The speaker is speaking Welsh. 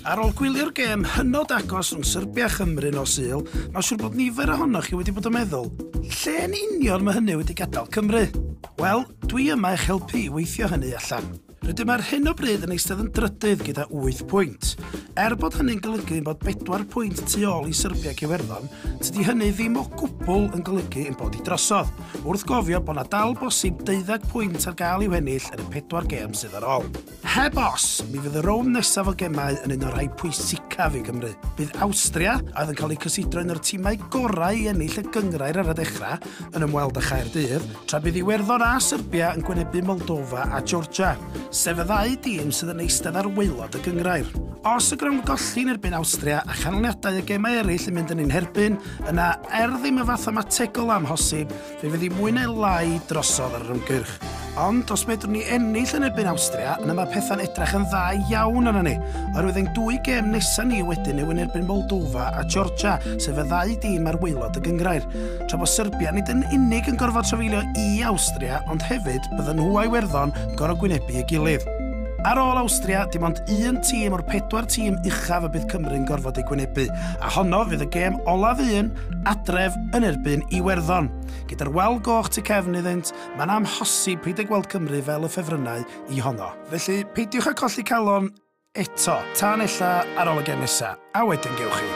Ar ôl gwylio'r gêm hynod agos rhwng Serbia a Chymru nos Sul, mae'n siŵr bod nifer ohonoch chi wedi bod yn meddwl, lle yn union mae hynny wedi gadael Cymru? Wel, dwi yma eich helpu i weithio hynny allan. Rydym ar hyn o bryd yn eistedd yn drydydd gyda 8 pwynt. Er bod hynny'n golygu bod 4 pwynt tu ôl i Serbia ac Iwerddon, tydi hynny ddim o gwbl yn golygu ein bod i drosodd. wrth gofio bod 'na dal bosib deuddeg pwynt ar gael i'w hennill yn y pedwar gêm sydd ar ôl. Heb os, mi fydd y rownd nesaf o gemau yn un o'r rhai pwysicaf i Gymru. Bydd Awstria, a oedd yn cael eu cysidro un o'r timau gorau i ennill y gynghrair ar y dechrau, yn ymweld â Chaerdydd, tra bydd Iwerddon a Serbia yn gwynebu Moldova a Georgia, sef y ddau dîm sydd yn eistedd ar waelod y gynghrair. Os y grawnd golli yn erbyn Awstria a chanlyniadau y gemau eraill yn mynd yn ein herbyn, Yna, er ddim yn fathemategol o amhosib, fe fydd hi mwy neu lai drosodd ar yr ymgyrch. Ond os medrwn ni ennill yn erbyn Awstria, yna mae pethau'n edrach yn dda iawn arna ni, oherwydd ein dwy gêm nesaf ni wedyn yw yn erbyn Moldova a Georgia, sef y ddau dîm ar waelod y gyngrair. Tra bod Serbia nid yn unig yn gorfod trafeilio i Awstria, ond hefyd bydden nhw a'i werddon gorau gwynebu ei gilydd. Ar ôl Awstria, dim ond un tîm o'r pedwar tîm uchaf y bydd Cymru'n gorfod ei gwynebu, A honno fydd y gêm olaf un adref yn erbyn Iwerddon. Gyda'r wal goch tu cefn iddynt, mae'n amhosib peidio gweld Cymru fel y ffefrynnau i honno. Felly, peidiwch â colli calon eto, tan ella ar ôl y gêm nesaf, a wedyn gewch chi.